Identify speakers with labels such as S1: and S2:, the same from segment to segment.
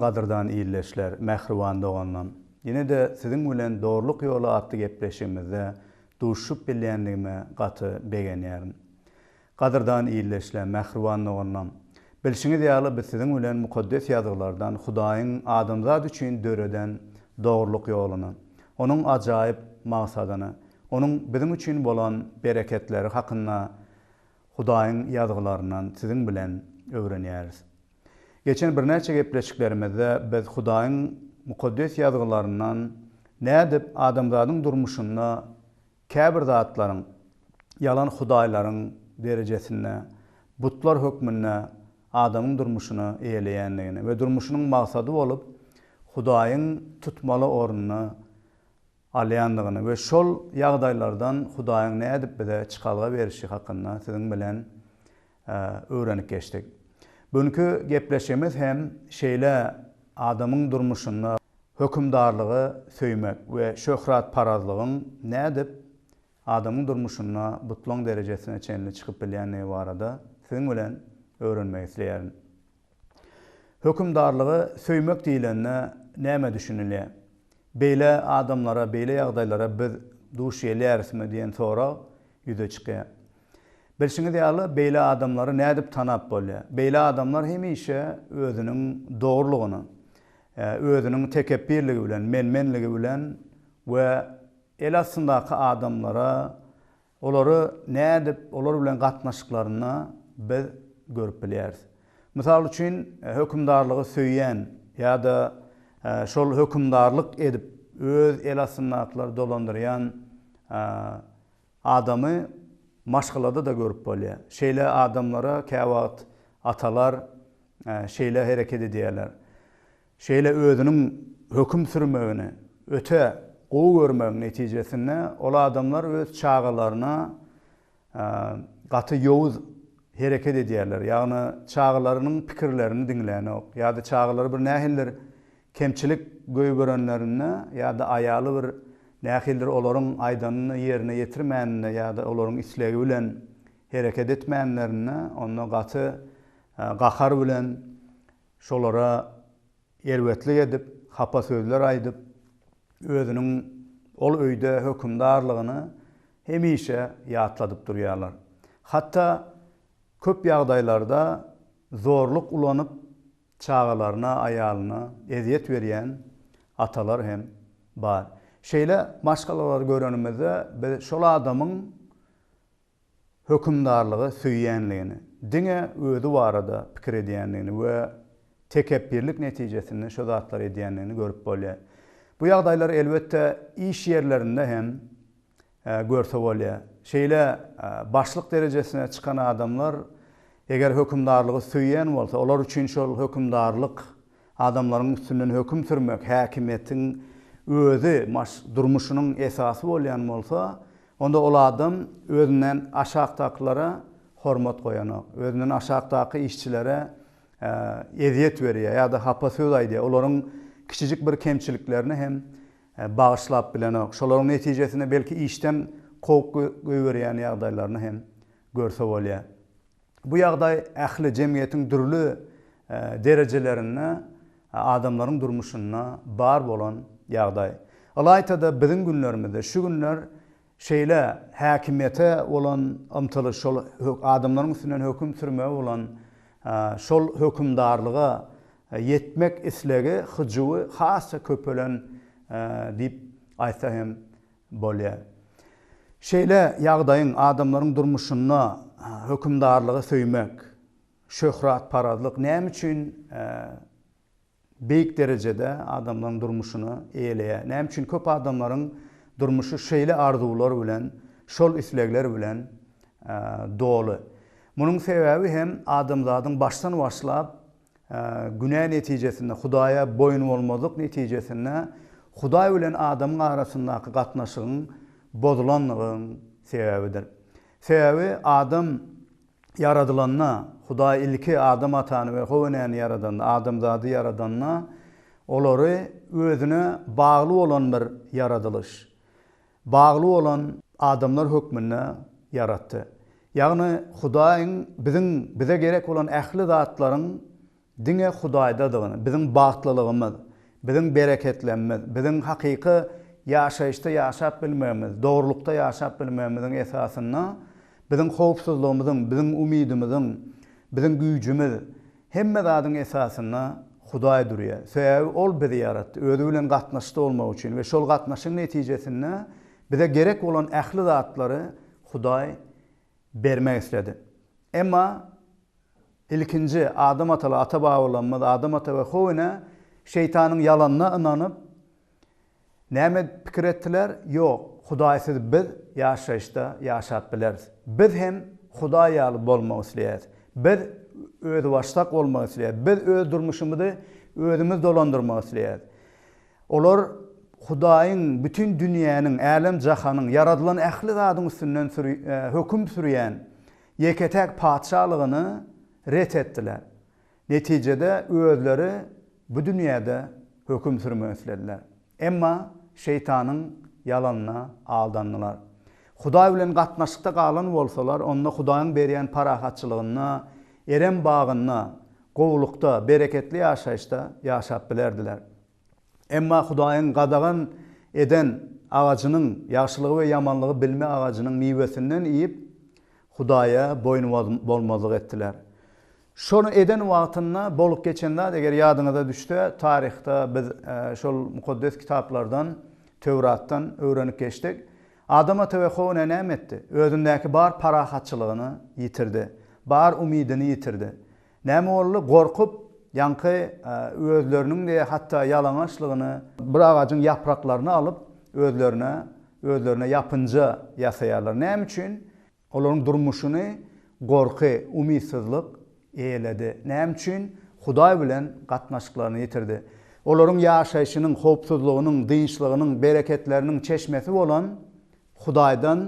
S1: Salam gadyrdan ildeşler, mähriban doganlarym! Ýene-de siziň bilen Dogrulyk ýoly atly gepleşigimizde duşuşyp bilýändigime gaty begenýärin. Gadyrdan ildeşler, mähriban doganlarym! Bilşiňiz ýaly, biz siziň bilen Mukaddes Ýazgylardan Hudaýyň adamzat üçin döreden dogrulyk ýoluny, Onuň ajaýyp magsadyny, Onuň biziň üçin bolan bereketleri hakynda Hudaýyň Ýazgylaryndan siziň bilen öwrenýäris. Geçen birnäçe gepleşiklerimizde biz Hudaýyň Mukaddes Ýazgylaryndan nädip adamzadyň durmuşynda Käbir zatlaryň, ýalan hudaýlaryň derejesinde, butlar hökmünde adamyň durmuşyny eýeleýändigini we durmuşynyň maksady bolup, Hudaýyň tutmaly ornuny alýandygyny we şol ýagdaýlardan Hudaýyň nädip bize çykalga berişi hakynda siziň bilen öwrenip geçdik. Bu günki gepleşigimiz hem şeýle adamyň durmuşynda hökümdarlygy söýmek we şöhratparazlygyň nädip adamyň durmuşynda butlaň derejesine çenli çykyp bilýändigi barada siziň bilen öwrenmek isleýärin. Hökümdarlygy söýmek diýlende nämä düşünilýär? Beýle adamlara, beýle ýagdaýlara biz duş gelýärismi diýen sorag ýüze çykýar. Bilşiňiz ýaly, beýle adamlary nädip tanap bolýar? Beýle adamlar hemişe özüniň dogrulygyny, özüniň tekepbirligi bilen, men-menligi bilen we el astyndaky adamlara Olary nädip, olar bilen gatnaşyklarynda biz görüp bilýäris. Mysal üçin, hökümdarlygy söýýän ýa-da şol hökümdarlyk edip, öz el astyndakylar dolandyrýan adamy maşgalada-da görüp bolýar. Şeýle adamlara käwagt atalar şeýle hereket edýärler. Şeýle özüniň höküm sürmegini öte gowy görmegiň netijesinde ol adamlar öz çagalaryna gaty ýowuz hereket edýärler. Ýagny çagalarynyň pikirlerini diňlänok ýa-da çagalary bir nähilidir kemçilik göýberenlerinde ýa-da aýaly bir nähilidir olaryň aýdanyny ýerine ýetirmäninde ýa-da olaryň islegi bilen hereket etmänlerinde onda gaty gahar bilen şolara erbetlik edip, hapa sözler aýdyp, özüniň ol öýde hökümdarlygyny hemişe ýatladyp durýarlar. Hatda köp ýagdaýlarda zorluk ulanyp, çagalaryna, aýalyna ezýet berýän atalar hem bar. Şeýle maşgalalary görenimizde, biz şol adamyň hökümdarlygy söýýänligini, diňe özi barada pikir edýändigini we tekepbirlik netijesinde şu zatlary edýändigini görüp bolýar. Bu ýagdaýlary elbetde iş ýerlerinde hem görse bolýar. Şeýle başlyk derejesine çykan adamlar eger hökümdarlygy söýýän bolsa, olar üçin şol hökümdarlyk Adamlaryň üstünden höküm sürmek häkimiýetiň özi, maş, durmuşynyň esasy bolýan bolsa, onda ol adam özünden aşakdakylara hormat goýanok, özünden aşakdaky işçilere ezýet berýär ýa-da hapa söz aýdýar, olaryň kiçijik bir kemçiliklerini hem bagyşlap bilenok, şolaryň netijesinde belki işden kowup goýberýän ýagdaýlaryny hem görse bolýar. Bu ýagdaý ähli jemgyýetiň dürli derejelerinde adamlaryň durmuşynda bar bolan ýagdaý. Ylaýta-da biziň günlerimizde şu günler şeýle häkimiýete bolan ymtylyş, şol adamlaryň üstünden höküm sürmegi bolan şol hökümdarlyga ýetmek islegi, hyjuwy has-da köpelen diýip aýtsa hem Bolýar. Şeýle ýagdaýyň adamlaryň durmuşynda hökümdarlygy söýmek, şöhratparazlyk näme üçin beýik derejede adamlaryň durmuşyny eýeleýär? Näme üçin köp adamlaryň durmuşy şeýle arzuwlar bilen, şol islegler bilen doly? Munuň sebäbi hem adamzadyň başdan başlap Günä netijesinde, Hudaýa boýunbolmazlyk netijesinde Hudaý bilen adamyň arasyndaky gatnaşygyň bozulandygyň sebäbidir. Sebäbi adam ýaradylanda, Hudaý ilki Adam atany we How enäni ýaradanda, adamzady ýaradanda, olary özüne bagly bolan bir ýaradylyş, bagly bolan adamlar hökmünde ýaratdy. Ýagny Hudaýyň biziň bize gerek bolan ähli zatlaryň diňe Hudaýdadygyny, biziň bagtlylygymyz, biziň bereketlenmemiz, biziň hakyky ýaşaýyşda ýaşap bilmegimiz, dogrulykda ýaşap bilmegimiziň esasynda biziň howpsuzlygymyzyň, biziň umydymyzyň, biziň güýjümiz, Hemme zadyň esasynda Hudaý durýar. Sebäbi Ol bizi ýaratdy, Özi bilen gatnaşykda bolmak üçin we şol gatnaşygyň netijesinde bize gerek bolan ähli zatlary Hudaý bermek isledi. Emma ilkinji Adam ataly ata-babalarymyz Adam ata we Howine Şeýtanyň ýalanyna ynanyp, Näme pikir etdiler? Ýok, Hudaýsyz biz ýaşaýyşda ýaşap bileris. Biz hem Hudaý ýaly bolmak isleýäris. Biz özbaşdak bolmak isleýäris. Biz öz durmuşymyzy özümiz dolandyrmak isleýäris. Olar Hudaýyň, bütin dünýäniň, älem-jahanyň, ýaradylan ähli zadyň üstünden höküm sürýän Ýeke-täk Patyşalygyny ret etdiler. Netijede özleri bu dünýäde höküm sürmek islediler. Emma şeýtanyň ýalanyna aldandylar. Hudaý bilen gatnaşykda galan bolsalar, onda Hudaýyň berýän parahatçylygynda, Erem bagynda, gowulykda, bereketli ýaşaýyşda ýaşap bilerdiler. Emma Hudaýyň gadagan eden agajynyň, ýagşylygy we ýamanlygy bilme agajynyň miwesinden iýip, Hudaýa boýun bolmazlyk etdiler. Şony eden wagtynda bolup geçen zat, eger ýadyňyza düşse, taryhda biz şol mukaddes kitaplardan, Töwratdan öwrenip geçdik. Adam ata we How ene näme etdi? Özündäki bar parahatçylygyny ýitirdi. Bar umydyny ýitirdi. Näme boldy? Gorkup, ýaňky özleriniň-de hatda ýalaňaçlygyny. Bir agajyň ýapraklaryny alyp, özlerine, özlerine ýapynja ýasaýarlar. Näme üçin? Olaryň durmuşyny gorky, umytsyzlyk eýeledi. Näme üçin? Hudaý bilen gatnaşyklaryny ýitirdi. Olaryň ýaşaýşynyň, howpsuzlygynyň, dynçlygynyň, bereketleriniň çeşmesi bolan. Hudaýdan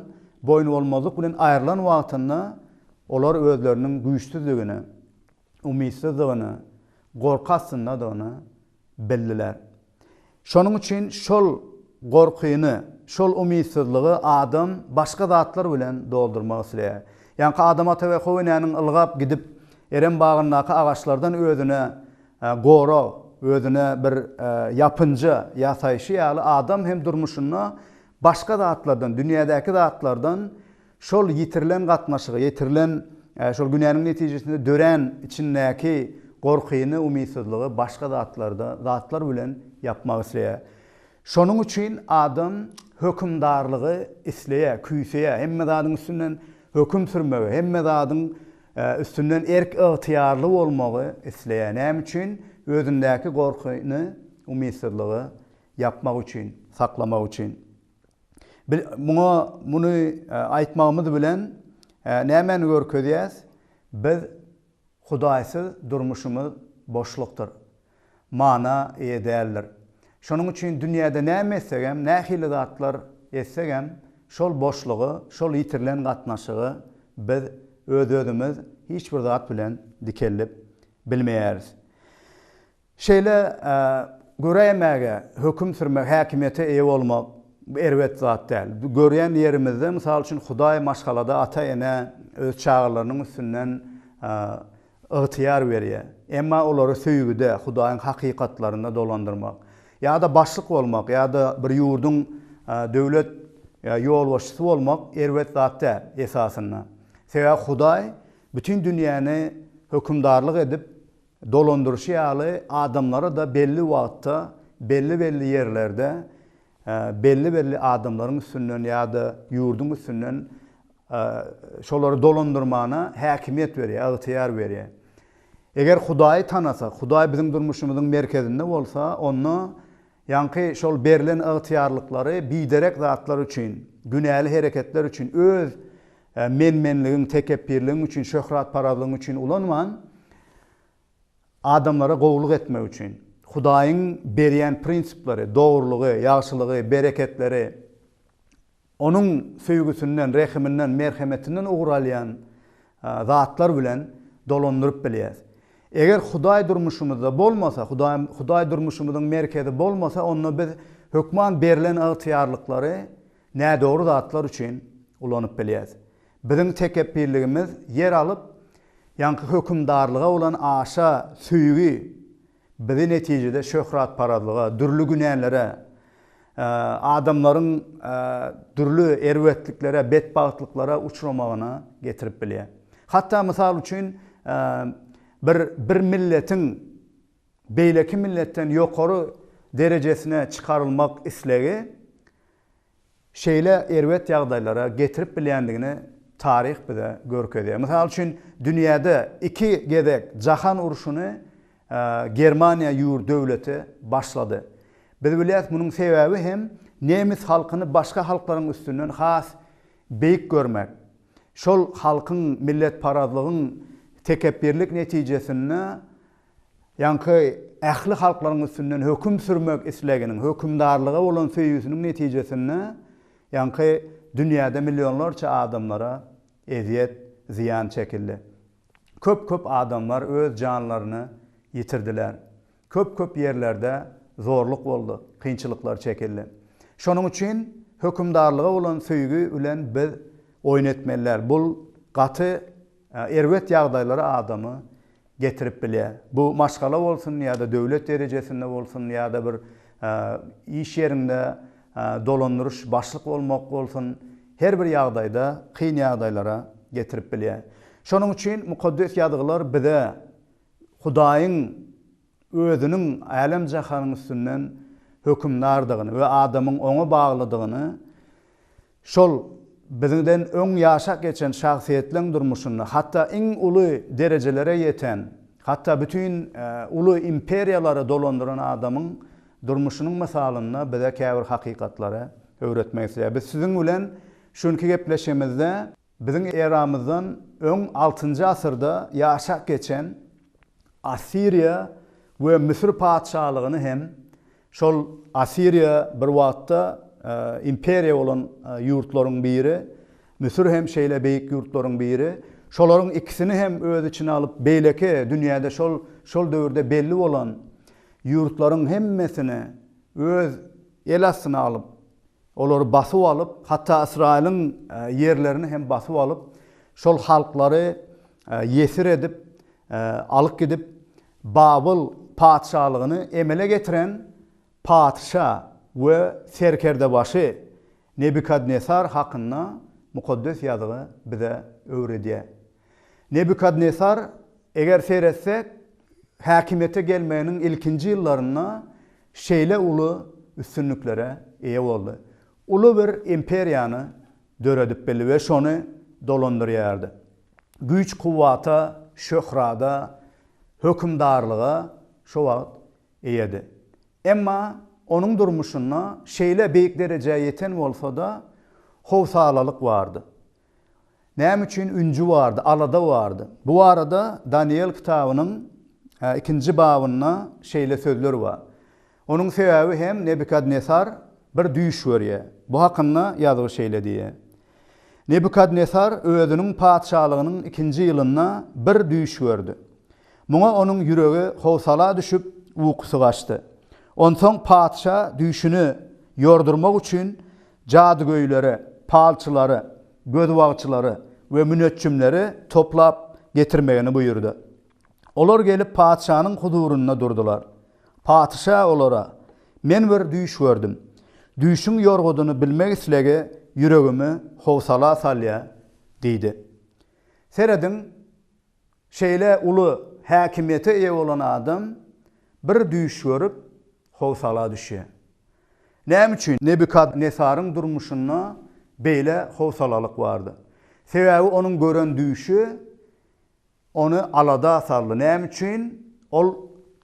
S1: boýnubolmazlyk bilen aýrylan wagtynda, olar özleriniň güýçsüzligini, umytsyzdygyny, gorky astyndadygyny bildiler. Şonuň üçin şol gorkyny, şol umytsyzlygy adam başga zatlar bilen doldurmak isleýär. Ýaňky Adam ata we How enäniň ylgap gidip, Erem bagyndaky agaçlardan özüne gorag, özüne bir ýapynja ýasaýşy ýaly, adam hem durmuşynda Başga zatlardan, dünýädäki zatlardan şol ýitirilen gatnaşygy, ýetirilen şol günäniň netijesinde dörän içindäki gorkyny, umytsyzlygy başga zatlarda, zatlar bilen ýapmak isleýär. Şonuň üçin adam hökümdarlygy isleýär, küýseýär, hemme zadyň üstünden höküm sürmegi, hemme zadyň üstünden erk-ygtyýarly bolmagy isleýär. Näme üçin? Özündäki gorkyny, umytsyzlygy Ýapmak üçin, saklamak üçin. Bi muňa muny aýtmagymyz bilen nämäni görkezýäs? Biz Hudaýsyz durmuşymyz boşlukdyr. Mana eýe däldir. Şonuň üçin dünýäde näme etsegem, nähili zatlar etsegem, şol boşlugy, şol ýitirilen gatnaşygy biz öz-özümiz hiç bir zat bilen dikeldip bilmeýäris. Şeýle göräýmäge, höküm sürmäge, häkimiýete eýe bolmak erbet zat däl. Görýän ýerimizde, mysal üçin, Hudaý maşgalada ata-enä öz çagalarynyň üstünden ygtyýar berýär. Emma olary söýgüde, Hudaýyň hakykatlarynda dolandyrmak ýa-da başlyk bolmak ýa-da bir ýurduň döwlet ýolbaşçysy bolmak erbet zat däl, esasynda. Sebäbi Hudaý bütin dünýäni hökümdarlyk edip, Dolandyryşy ýaly adamlary-da belli wagtda, belli-belli ýerlerde belli-belli adamlaryň üstünden ýa-da ýurduň üstünden şolary dolandyrmana häkimiýet berýär, ygtyýar berýär. Eger Hudaýy tanasak, Hudaý biziň durmuşymyzyň merkezinde bolsa, onda Ýaňky şol berlen ygtyýarlyklary biderek zatlar üçin, günäli hereketler üçin, öz men-menligiň, tekepbirligiň üçin, şöhratparazlygyň üçin ulanman, adamlara gowulyk etmek üçin, Hudaýyň berýän prinsipleri, dogrulygy, ýagşylygy, bereketleri Onuň söýgüsinden, rehiminden, merhemetinden ugur alýan zatlar bilen dolandyryp bilýäris. Eger Hudaý durmuşymyzda bolmasa, Hudaý, Hudaý durmuşymyzyň merkezi bolmasa, onda biz hökman berlen ygtyýarlyklary nädogry zatlar üçin ulanyp bilýäris. Biziň tekepbirligimiz ýer alyp, ýaňky hökümdarlyga bolan aşa söýgi, Bizi netijede şöhratparazlyga, dürli günälere, adamlaryň dürli erbetliklere, betbagtlyklara uçramagyna getirip bilýär. Hatda mysal üçin bir bir milletiň beýleki milletden ýokary derejesine çykarylmak islegi şeýle erbet ýagdaýlara getirip bilýändigini taryh bize görkezýär. Mysal üçin, dünýäde iki gezek jahan urşuny Germaniýa ýurt, döwleti başlady. Biz bilýäris, munuň sebäbi hem nemes halkyny başga halklaryň üstünden has beýik görmek. Şol halkyň milletparazlygyň tekepbirlik netijesinde Ýaňky ähli halklaryň üstünden höküm sürmek isleginiň, hökümdarlyga bolan söýgüsiniň netijesinde ýaňky dünýäde millionlarça adamlara ezýet, zyýan çekildi. Köp-köp adamlar öz janlaryny ýitirdiler. Köp-köp ýerlerde zorluk boldy, kynçylyklar çekildi. Şonuň üçin hökümdarlyga bolan söýgi bilen biz oýun etmeli däl. Bul gaty erbet ýagdaýlara adamy getirip bilýär. Bu maşgala bolsun ýa-da döwlet derejesinde bolsun ýa-da bir iş ýerinde dolandyryş başlyk bolmak bolsun, her bir ýagdaýda kyn ýagdaýlara getirip bilýär. Şonuň üçin Mukaddes Ýazgylar bize Hudaýyň Özüniň älem-jahanyň üstünden hökümdardygyny we adamyň Oňa baglydygyny Şol biziňden öň ýaşap geçen şahsyýetleň durmuşynda, hatda iň uly derejelere ýeten, hatda bütin uly imperiýalary dolandyran adamyň durmuşynyň mysalynda bize käbir hakykatlary öwretmek isleýär. Biz siziň bilen şu günki gepleşigimizde Biziň eramyzdan öň altynjy asyrda ýaşap geçen Assiriýa we Müsür patyşalygyny hem, şol Assiriýa bir wagtda imperiýa bolan ýurtlaryň biri, Müsür hem şeýle beýik ýurtlaryň biri, şolaryň ikisini hem öz içine alyp, beýleki dünýäde şol şol döwürde belli bolan ýurtlaryň hemmesini öz el astyna alyp, Olary basyp alyp, hatda Ysraýylyň ýerlerini hem basyp alyp, şol halklary ýesir edip alyp gidip, Babyl patyşalygyny emele getiren patyşa we serkerdebaşy Nebukadnesar hakynda Mukaddes Ýazgy bize öwredýär. Nebukadnesar, eger seretsek, häkimiýete gelmeginiň ilkinji ýyllarynda şeýle uly üstünliklere eýe boldy. Uly bir imperiýany döredip bildi we şony dolandyrýardy. Güýç-kuwwata, şöhrada, hökümdarlyga şo wagt eýedi. Emma onuň durmuşynda şeýle beýik derejä ýeten bolsa-da, howsalalyk bardy. Näme üçin ünji bardy, alada bardy? Bu barada Danyýel kitabynyň ikinji babynda şeýle sözler bar. Onuň sebäbi hem Nebukadnesar bir düýş görýär. Bu hakynda Ýazgy şeýle diýýär, Nebukadnesar özüniň patyşalygynyň ikinji ýylynda bir düýş gördi. Muňa onuň ýüregi howsala düşüp, ukusy gaçdy. Onsoň patyşa düýşüni ýordurmak üçin jadygöýleri, palçylary, gözbagçylary we müneçjimleri toplap getirmegini buýurdy. Olar gelip patyşanyň huzurynda durdular. Patyşa olara, Men bir düýş gördüm. Düýşüň ýorgudyny bilmek islegi ýüregimi howsala salýar diýdi. Serediň, şeýle uly häkimiýete eýe bolan adam bir düýş görüp, howsala düşýär. Näme üçin Nebukadnesaryň durmuşynda beýle howsalalyk bardy? Sebäbi onuň gören düýşi ony alada saldy. Näme üçin? Ol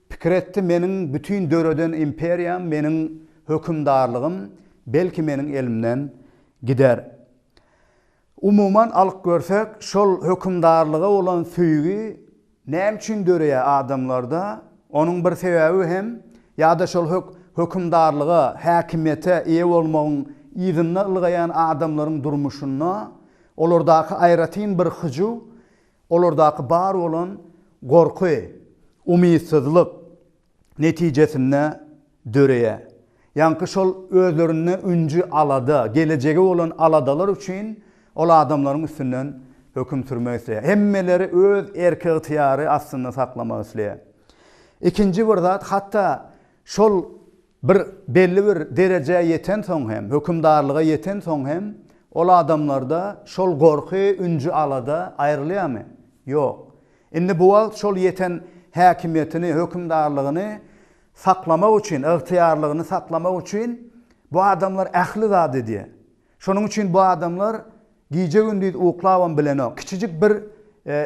S1: pikir etdi, Meniň bütin döreden imperiýam, meniň hökümdarlygym belki meniň elimden gider. Umuman alyp görsek, şol hökümdarlyga bolan söýgi näme üçin döreýär adamlarda? Onuň bir sebäbi hem ýa-da şol hökümdarlyga, häkimiýete eýe bolmagyň yzynda ylgaýan adamlaryň durmuşynda olardaky aýratyn bir hyjuw, olardaky bar bolan gorky, umytsyzlyk, netijesinde döreýär. Ýaňky şol özlerinde ünji alada, gelejege bolan aladalar üçin ol adamlaryň üstünden höküm sürmek isleýär. Hemmeleri öz erki-ygtyýary astynda saklamak isleýär. Ikinji bir zat, hatda şol bir belli bir derejä ýetensoň hem, hökümdarlyga ýetensoň hem, ol adamlarda şol gorky, ünji alada aýrylýarmy? Ýok. Indi bu wagt şol ýeten häkimiýetini, hökümdarlygyny saklamak üçin, ygtyýarlygyny saklamak üçin bu adamlar ähli zady edýär. Şonuň üçin bu adamlar gije-gündiz uklabam bilenok. Kiçijik bir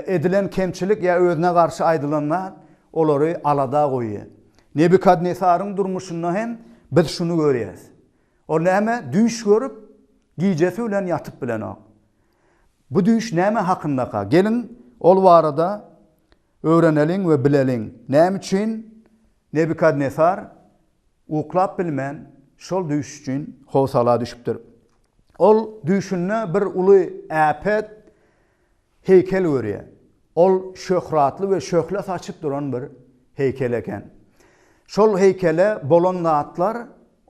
S1: edilen kemçilik ýa özüne garşy aýdylan zat olary alada goýýar. Nebukadnesaryň durmuşynda hem biz şuny görýäris. Ol näme düýş görüp, gijesi bilen ýatyp bilenok. Bu düýş näme hakyndaka? Geliň, ol barada öwreneliň we bileliň, näme üçin Nebukadnesar uklap bilmän, şol düýş üçin howsala düşüpdir. Ol düýşünde bir uly äpet heýkel görýär. Ol şöhratly we şöhle saçyp duran bir heýkel eken. Şol heýkele bolan zatlar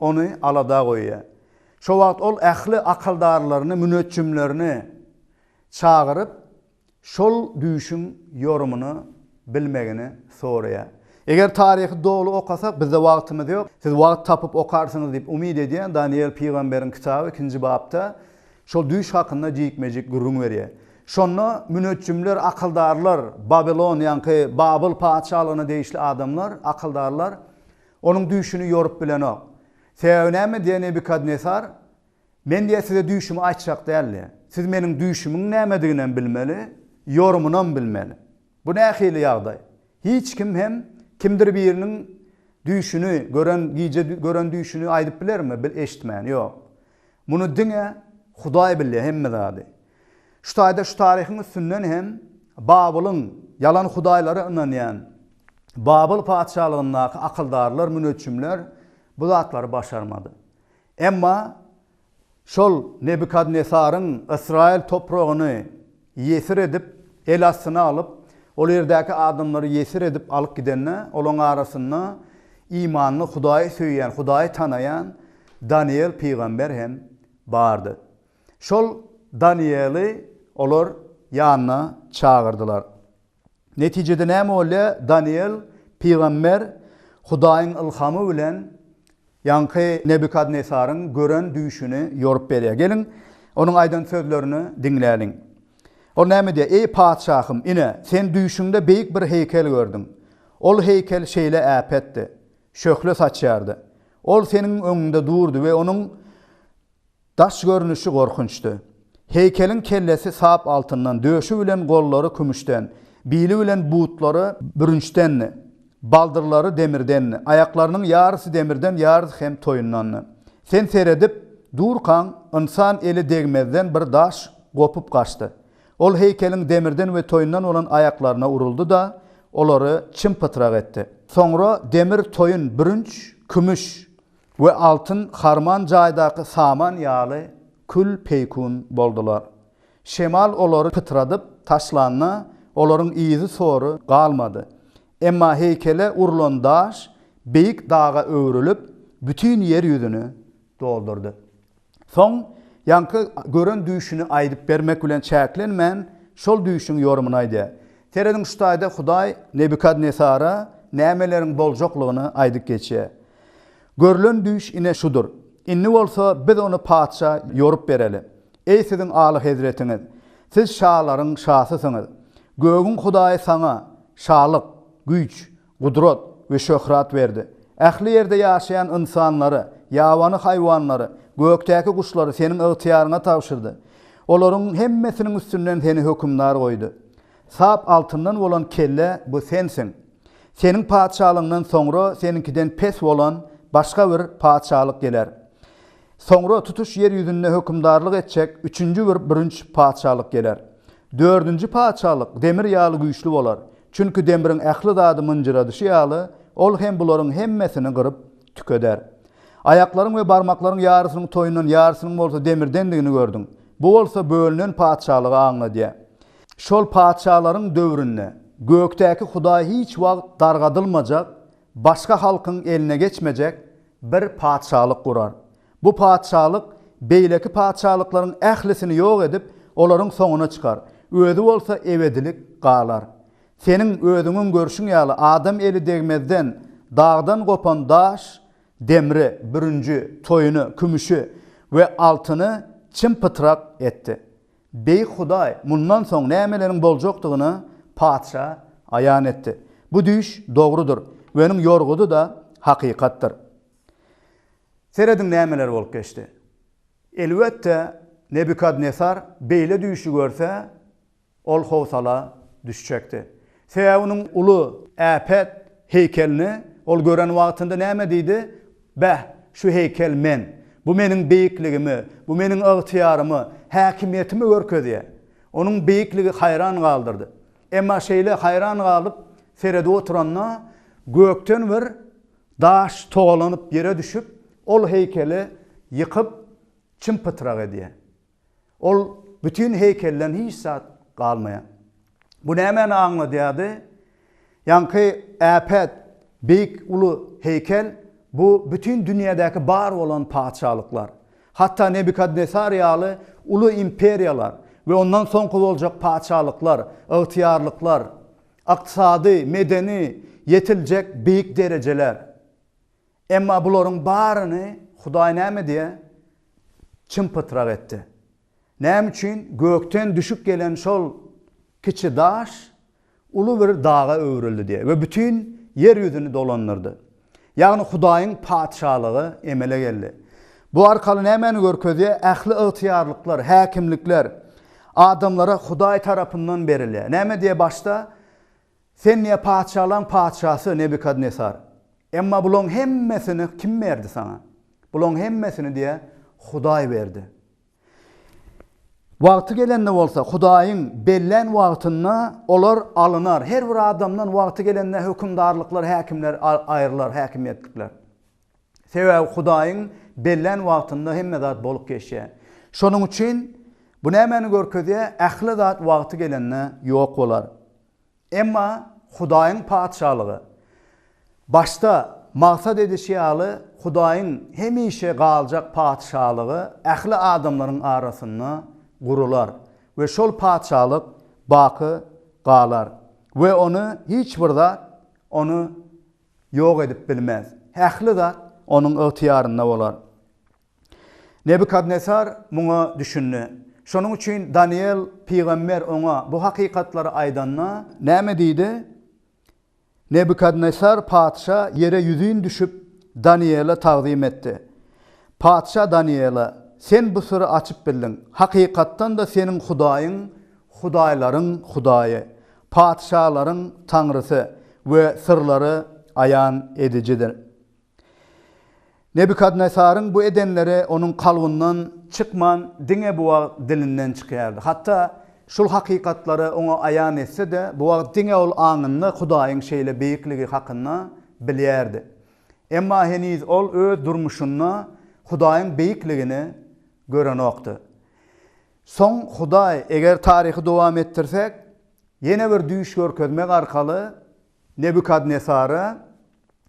S1: ony alada goýýar. Şo wagt ol ähli akyldarlaryny, müneçjimlerini çagyryp, şol düýşüň ýorumyny bilmegini soraýar. Eger taryhy doly okasak, bizde wagtymyz ýok, siz wagt tapyp okarsyňyz diýip umyt edýän Danyýel pygamberiň kitaby ikinji bapda şol düýş hakynda jikme-jik gürrüň berýär. Şonda müneçjimler, akyldarlar, Babilon, ýaňky Babyl patyşalygyna degişli adamlar, akyldarlar Onuň düýşüni ýorup bilenok. Sebäbi näme diýe Nebukadnesar? Men diýe size düýşümi aýtjak däl diýe. Siz meniň düýşümiň nämediginem bilmeli, ýorumynam bilmeli. Bu nähili ýagdaý? Hiç kim hem kimdir biriniň düýşüni, gören gije gören düýşüni aýdyp bilermi, eşitmän? Ýok. Muny diňe Hudaý bilýär hemme zady. Şu taýda şu taryhyň üstünden hem Babylyň ýalan hudaýlara ynanýan Babyl patyşalygyndaky akyldarlar, müneçjimler bu zatlary başarmady. Emma şol Nebukadnesaryň Ysraýyl topragyny Ýesir edip, el astyna alyp, ol ýerdäki adamlary ýesir edip alyp gidende, olaryň arasynda imanly, Hudaýy söýýän, Hudaýy tanaýan Danyýel pygamber hem bardy. Şol Danyýeli olar ýanyna çagyrdylar. Netijede näme bolýar? Danyýel pygamber Hudaýyň ylhamy bilen ýaňky Nebukadnesaryň gören düýşüni ýorup berýär. Geliň, onuň aýdan sözlerini diňläliň. Ol näme diýýär? Eý, patyşahym, ine, sen düýşüňde beýik bir heýkel gördüň. Ol heýkel şeýle äpetdi, şöhle saçýardy. Ol seniň öňüňde durdy we onuň Daş görnüşi gorkunçdy. Heýkeliň kellesi sap altyndan, döşi bilen gollary kümüşden, bili bilen butlary bürünçdendi. Baldyrlary demirdendi. Aýaklarynyň ýarysy demirden, ýarysy hem toýundandy. Sen seredip durkaň, ynsan eli degmezden bir daş gopup gaçdy. Ol heýkeliň demirden we toýundan bolan aýaklaryna uruldy-da, olary çym-pytrak etdi. Soňra demir toýun, bürünç, kümüş. We altyn harman jaýdaky saman ýaly kül-peýkun boldular. Şemal olary pytradyp taşlanda, olaryň yzy-sory galmady. Emma heýkele urlan daş beýik daga öwrülip, bütin ýer ýüzüni doldurdy. Soň ýaňky gören düýşüni aýdyp bermek bilen çäklenmän, şol düýşüň ýorumyny aýdýar. Serediň şu taýda Hudaý Nebukadnesara nämeleriň boljaklygyny aýdyp geçýär. Görlen düýş ine şudur. Indi bolsa biz ony patyşa ýorup bereli. Eý siziň Alyhezretiňiz! Siz şalaryň şasysyňyz. Gögüň Hudaýy saňa, Şalyk, güýç, Gudrat we şöhrat berdi. Ähli ýerde ýaşaýan ynsanlary, ýabany haýwanlary, gökdäki guşlary Seniň ygtyýaryňa tabşyrdy. Olaryň hemmesiniň üstünden Seni hökümdar goýdy. Sap altyndan bolan kelle bu Sensiň. Seniň patyşalygyňdan soňra Seniňkiden pes bolan başga bir patyşalyk geler. Soňra tutuş ýer ýüzünde hökümdarlyk etjek üçünji bir bürünç patyşalyk geler. Dördünji patyşalyk demir ýaly güýçli bolar, çünki demriň ähli zady mynjyradyşy ýaly, ol hem bularyň hemmesini gyryp tükeder. Aýaklaryň we barmaklaryň ýarysynyň toýundan, ýarysynyň bolsa demirdendigini gördüň. Bu bolsa bölünen patyşalygy aňladýar. Şol patyşalaryň döwründe gökdäki Hudaý hiç wagt dargadylmajak Başga halkyň eline geçmejek bir patyşalyk gurar. Bu patyşalyk beýleki patyşalyklaryň ählisini ýok edip, olaryň soňuna çykar, özi bolsa ebedilik galar. Seniň özüňiň görşüň ýaly, adam eli degmezden dagdan gopan daş, demri, bürünji, toýuny, kümüşi we altyny çym-pytrak etdi. Beýik Hudaý mundan soň nämeleriň boljakdygyny patyşa aýan etdi. Bu düýş dogrudyr we onuň ýorgudy-da hakykatdyr. Serediň nämeler bolup geçdi. Elbetde, Nebukadnesar beýle düýşi görse, ol howsala düşjekdi. Sebäbi onuň uly äpet heýkelini ol gören wagtynda näme diýdi? Bäh, şu heýkel men! Bu meniň beýikligimi, bu meniň ygtyýarymy, häkimiýetimi görkezýär. Onuň beýikligi haýran galdyrdy. Emma şeýle haýran galyp seredip oturanda, gökden bir daş togalanyp ýere düşüp, ol heýkeli ýykyp, çym-pytrak edýär. Ol bütin heýkelden hiç zat galmaýar. Bu nämäni aňladýardy? Ýaňky äpet, beýik, uly heýkel, bu bütin dünýädäki bar bolan patyşalyklar. Hatda Nebukadnesar ýaly uly imperiýalar we ondan soňky boljak patyşalyklar, ygtyýarlyklar, ykdysady, medeni ýetiljek beýik derejeler. Emma bularyň baryny Hudaý näme diýýär? Çym-pytrak etdi. Näme üçin? Gökden düşüp gelen şol kiçi daş uly bir daga öwrüldi diýýär we bütin ýer ýüzüni dolandyrdy. Ýagny Hudaýyň Patyşalygy emele geldi. Bu arkaly nämäni görkezýär? Ähli ygtyýarlyklar, häkimlikler adamlara Hudaý tarapyndan berilýär. Näme diýýär başda? Sen ne patyşalaryň patyşasy Nebukadnesar. Emma bularyň hemmesini kim berdi saňa? Bularyň hemmesini diýe Hudaý berdi. Wagty gelende bolsa, Hudaýyň bellän wagtynda olar alynar. Her bir adamdan wagty gelende hökümdarlyklar, häkimler aýrylar, häkimiýetlikler. Sebäbi Hudaýyň bellän wagtynda hemme zat bolup geçýär. Şonuň üçin bu nämäni görkezýär? Ähli zat wagty gelende ýok bolar. Emma Hudaýyň Patyşalygy, başda maksat edişi ýaly, Hudaýyň hemişe galjak Patyşalygy ähli adamlaryň arasynda gurular we şol Patyşalyk baky galar we ony hiç bir zat ony ýok edip bilmez. Ähli zat Onuň ygtyýarynda bolar. Nebukadnesar muňa düşündi. Şonuň üçin Danyýel pygamber oňa bu hakykatlary aýdanda. Näme diýdi? Nebukadnesar patyşa ýere ýüzin düşüp, Danyýele tagzym etdi. Patyşa Danyýele, Sen bu syry açyp bildiň. Hakykatdan-da, seniň Hudaýyň Hudaýlaryň Hudaýy, Patyşalaryň Taňrysy we syrlary aýan edijidir. Nebukadnesaryň bu edenleri onuň kalbyndan çykman, diňe bu wagt dilinden çykýardy. Hatda şul hakykatlary oňa aýan etse-de, bu wagt diňe ol aňynda Hudaýyň şeýle beýikligi hakynda bilýärdi. Emma heniz ol öz durmuşynda Hudaýyň beýikligini görenokdy. Soň Hudaý, eger taryhy dowam etdirsek, ýene bir düýş görkezmek arkaly Nebukadnesara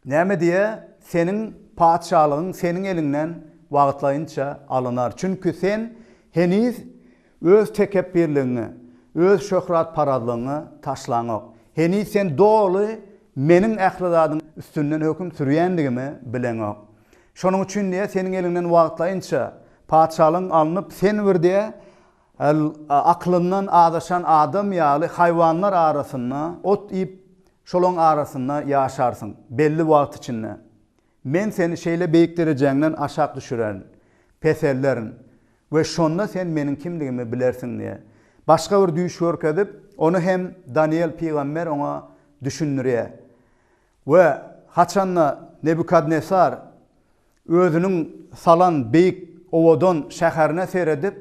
S1: näme diýýär, Seniň patyşalygyň seniň eliňden wagtlaýynça alynar. Çünki sen heniz öz tekepbirligiňi, öz şöhratparazlygyňy taşlaňok. Heniz sen doly Meniň ähli zadyň üstünden höküm sürýändigimi bileňok. Şonuň üçin, diýe, seniň eliňden wagtlaýynça patyşalygyň alnyp, sen bir, diýe, aklyndan azaşan adam ýaly haýwanlar arasynda ot iýip, şolaryň arasynda ýaşarsyň belli wagt içinde. Men seni şeýle beýik derejäňden aşak düşürerin, peselderin we şonda sen Meniň kimdigimi bilersiň, diýe. Başga bir düýş görkezip, ony hem Danyýel pygamber oňa düşündirýär. We haçan-da Nebukadnesar özüniň salan beýik, owadan şäherine seredip,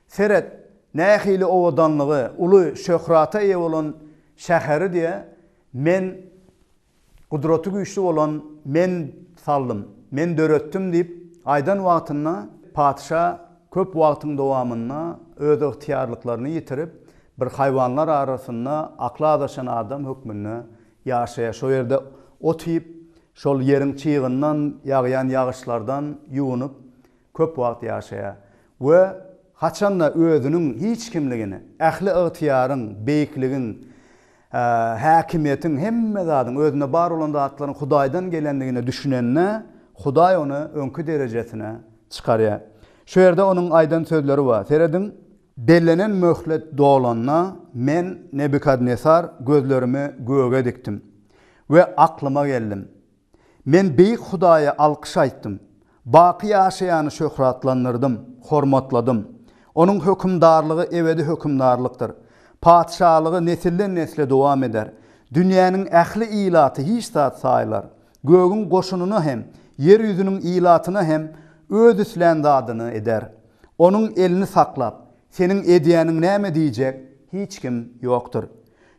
S1: Seret, nähili owadanlygy, uly şöhrata eýe bolan şäheri diýe, Men, Gudraty Güýçli bolan Men saldym, Men döretdim diýip aýdan wagtynda, patyşa köp wagtyň dowamynda öz ygtyýarlyklaryny ýitirip, bir haýwanlar arasynda akly azaşan adam hökmünde Ýaşaýar. Şo ýerde ot iýip, şol ýeriň çygyndan, ýagýan ýagyşlardan ýuwunyp, köp wagt ýaşaýar we haçan-da özüniň hiç kimligini, ähli ygtyýaryň, beýikligiň, häkimiýetiň, hemme zadyň, özünde bar bolan zatlaryň Hudaýdan gelendigine düşünende, Hudaý ony öňki derejesine çykarýar. Şo ýerde onuň aýdan sözleri bar. Serediň, Bellenen möhlet dolanda, men, Nebukadnesar, gözlerimi göge dikdim we aklyma geldim. Men Beýik Hudaýa alkyş aýtdym, baky ýaşaýany şöhratlandyrdym, hormatladym. Onuň hökümdarlygy ebedi hökümdarlykdyr, patyşalygy nesilden-nesle dowam eder. Dünýäniň ähli ilaty hiç zat saýylar, Gögüň goşunyna hem, ýer ýüzüniň ilatyna hem Öz islän zadyny eder. Onuň elini saklap, Seniň edýäniň näme diýjek hiç kim ýokdur.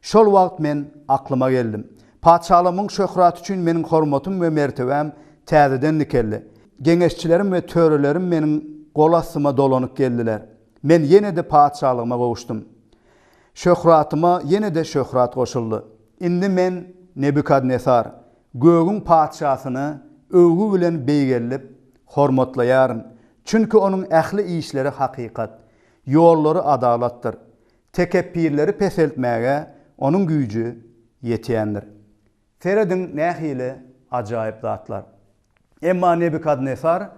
S1: Şol wagt men aklyma geldim. Patyşalygymyň şöhraty üçin meniň hormatym we mertebäm täzeden dikeldi. Geňeşçilerim we törelerim meniň gol astyma dolanyp geldiler. Men ýene-de patyşalygyma gowuşdym. Şöhratyma ýene-de şöhrat goşuldy. Indi men, Nebukadnesar, gögüň Patyşasyny öwgi bilen beýgeldip, hormatlaýaryn, çünki onuň ähli işleri hakykat, ýollary adalatdyr, tekepbirleri peseltmäge onuň güýji ýetýändir. Serediň, nähili ajaýyp zatlar! Emma Nebukadnesar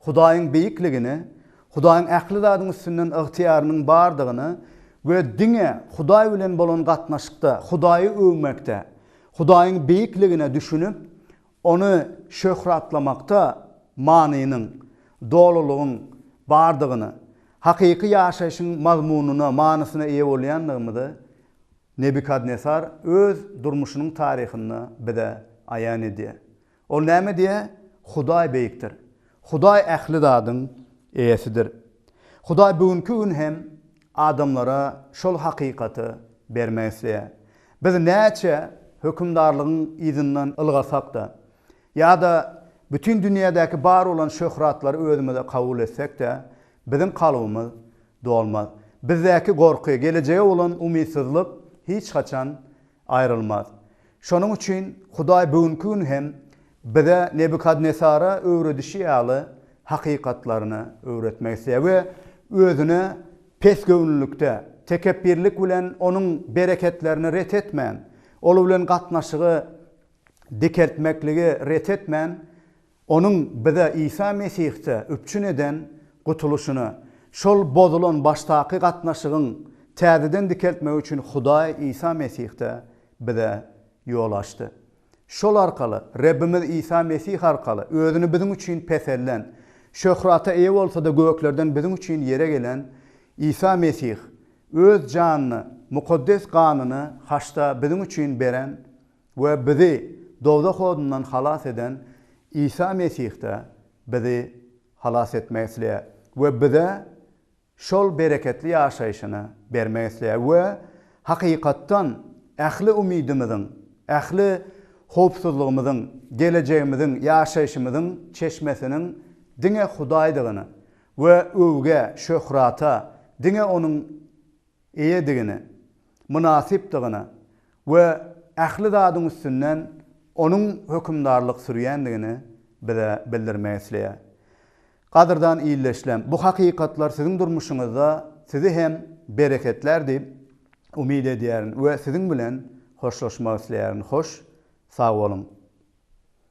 S1: Hudaýyň beýikligini, Hudaýyň ähli zadyň üstünden ygtyýarynyň bardygyny we diňe Hudaý bilen bolan gatnaşykda Hudaýy öwmekde, Hudaýyň beýikligine düşünip, Ony şöhratlamakda manynyň, dolulygyň bardygyny, hakyky ýaşaýşyň mazmunyna, manysyna eýe bolýandygymyzy Nebukadnesar öz durmuşynyň taryhynda bize aýan edýär. Ol näme diýýär? Hudaý beýikdir. Hudaý ähli zadyň Eýesidir. Hudaý bu günki gün hem adamlara şol hakykaty bermek isleýär. Biz näçe hökümdarlygyň yzyndan ylgasak-da, ýa-da bütin dünýädäki bar bolan şöhratlary özümize kabul etsek-de, biziň kalbymyz dolmaz. Bizdäki gorky, gelejege bolan umytsyzlyk hiç haçan Aýrylmaz. Şonuň üçin Hudaý bu günki gün hem bize Nebukadnesara öwredişi ýaly hakykatlaryny öwretmek isleýär we Özüne pesgöwünlilikde, tekepbirlik bilen Onuň bereketlerini ret etmän, Ol bilen gatnaşygy dikeltmekligi ret etmän, Onuň bize Isa Mesihde üpjün eden gutulyşyny, şol bozulan başdaky gatnaşygyň täzeden dikeltmegi üçin Hudaý Isa Mesihde bize ýol açdy. Şol arkaly, Rebbimiz Isa Mesih arkaly özüni biziň üçin peselden, şöhrata eýe bolsa-da göklerden biziň üçin ýere gelen Isa Mesih, öz janyny, mukaddes ganyny haçda biziň üçin beren we bizi dowzah odundan halas eden Isa Mesih-de bizi halas etmek isleýär we bize şol bereketli ýaşaýşyny bermek isleýär we hakykatdan ähli umydymyzyň, ähli howpsuzlygymyzyň, gelejegimiziň, ýaşaýşymyzyň çeşmesiniň diňe Hudaýdygyny we öwgä, şöhrata diňe Onuň eýedigine, mynasypdygyna we ähli zadyň üstünden Onuň hökümdarlyk sürýändigini bize bildirmek isleýär. Gadyrdan ildeşlem, bu hakykatlar siziň durmuşyňyzda sizi hem bereketlär diýip umyt edýärin we siziň bilen hoşlaşmak isleýärin. Hoş, sag boluň!